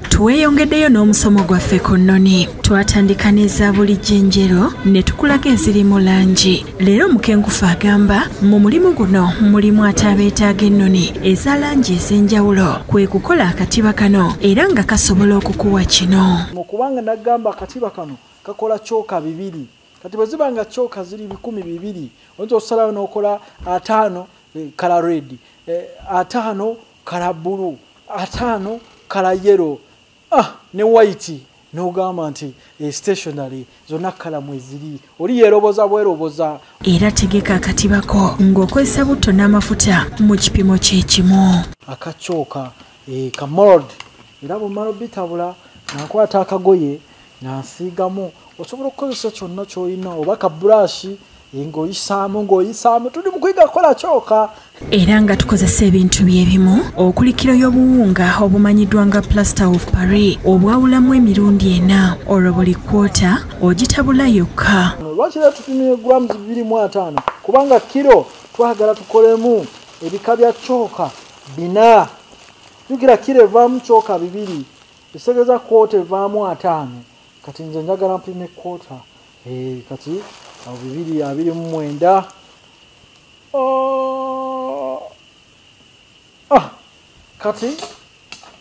tweyongeddeyo n'omusomo gwaffe ku nnoni twatandika n'eza buli jjenjero ne tukulaga eziri mu langi Leero Mukenkufu agamba mu mulimu guno mulimu ate abeetaaga ennoni eza langi ez'enjawulo kwe kukola akatiba kano era nga kasobola okukuwa kino. Mu kubanga n'agamba akatiba kano kakola kyoka bibiri kati bwe ziba nga kyoka ziri bikumi bibiri oyinza okusalawo n'okola ataano eh, kala redi eh, ataano kala bbulu ataano kala yero ah ne white nogamba nti e stationary zonna kalamu eziri oli yeroboza bweroboza era tegeka akatibako ng'okozesa butto n'amafuta mu kipimo kyekimu akakyoka e, eh, kamold era bwemala obitabula nakwata akagoye nansiigamu osobola okukozesa kyonna kyolina oba ka burashi ng'oyisaamu ng'oyisaamu tuli mu kuyiga kukola kyoka era nga tukozesa ebintu byebimu okuli kiro y'obuwunga obumanyiddwa nga plaster of paris obwawulamu emirundi ena olwo buli kwota ogitabula yokka lwaki era tupimire grams bibiri mu ataano kubanga kiro twagala tukolemu ebika bya kyoka bina jukira kiro evaamu kyoka bibiri ekitegeza kwota evaamu ataano kati nze njagala mpime kwota Eh, kati abo bibiri abiri mu mwenda oh! ah! kati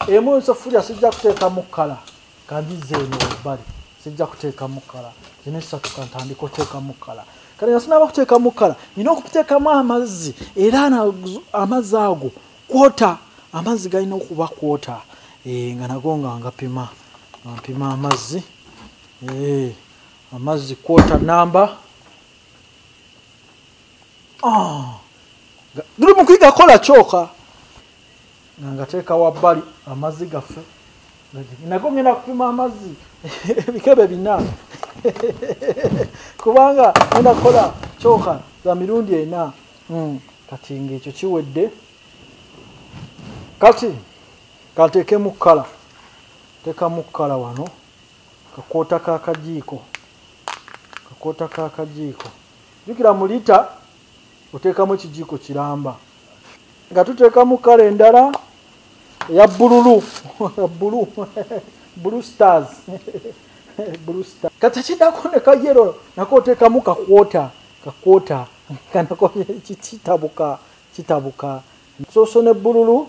emu ensafulya sijja kuteekamu kkala kandiza eno ebbali sijja kuteekamu kkala zino esatu kantandika oteekamu kkala kati nga sinaba kuteekamu kkala nina okuteekamu amazzi era amazzi ago kwota amazzi galina okuba kwota eh, nga nago nga ngapima ngampima amazzi Hey, eh, amazzi quarter number ah, guli mu kuyigakola kyoka nga ngateeka wabbali amazzi gaffe nago ngenda kupima amazzi ebikebe bina kubanga ngenda kukola kyoka za mirundi ena hmm, kati ngaekyo kiwedde kati kanteekemu kkala teekamu kkala wano kakoota kakajiiko kakoota kakajiiko jukira mu lita oteekamu ekijiiko kiramba nga tuteekamu kala endala eya bululu bulu bulu stars bulu star kati kidako ne kayero nako oteekamu kakwota kakwota kanako kitabuka kitabuka soso ne bululu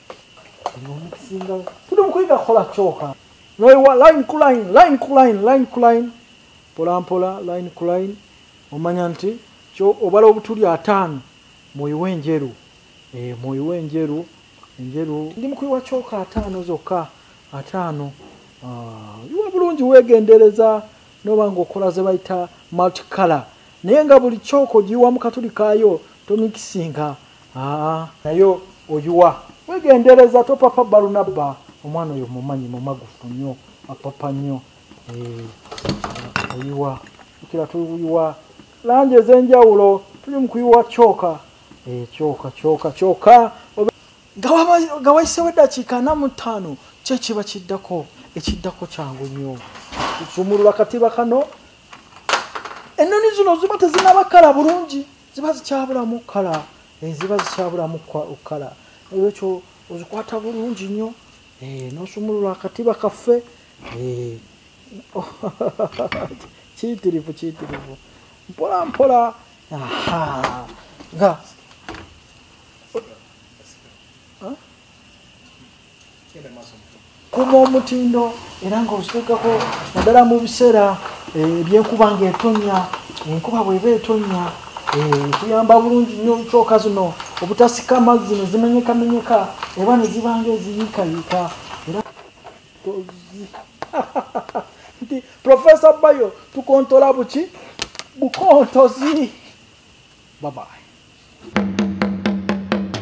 tuli mukuyiga kukola kyoka noiwa line ku line line ku line line ku line mpolampola line ku line omanya nti obala obutuli ataano muyiwa enjeru eh, muyiwa enjeru enjeru ndi mukuyiwa kyoka ataano zokka ataano ah, iwa bulungi wegendereza noba nga okola zebayita multicolor naye nga buli kyoka ogiyiwamu katuli kayo tomikisinga Ah, naye oyiwa wegendereza topapa balunabba omwana oyo mumanyi mumagufu nyo apapa nyo eh, oyiwa kira tuyiwa langi ezenjawulo tuli mukuyiwa kyoka eh, kyoka kyoka kyoka nga wayisewo eddakiika ana mu ttaano kyekiba kiddako ekiddako kyangu nyo kusumulula katiba kano ennoni zino ziba tezinabakala bulungi ziba zikyabulamu kala eh, ziba zikyabulamu kala olwekyo ozikwata bulungi nnyo eh, nosumulula akatiba kaffe eh, kiyitirivu kiyitirivu mpola mpola nga kuma omutindo era nga ozitekako naddala mu biseera eh, ebyenkuba nga etonya enkuba bweba etonya eh, kuyamba bulungi nnyo kyoka zino obutasika amazzi nezimenyekamenyeka eba nezibanga eziyiikayiika era nti profesa bayo tukontola buki bukontozi babaye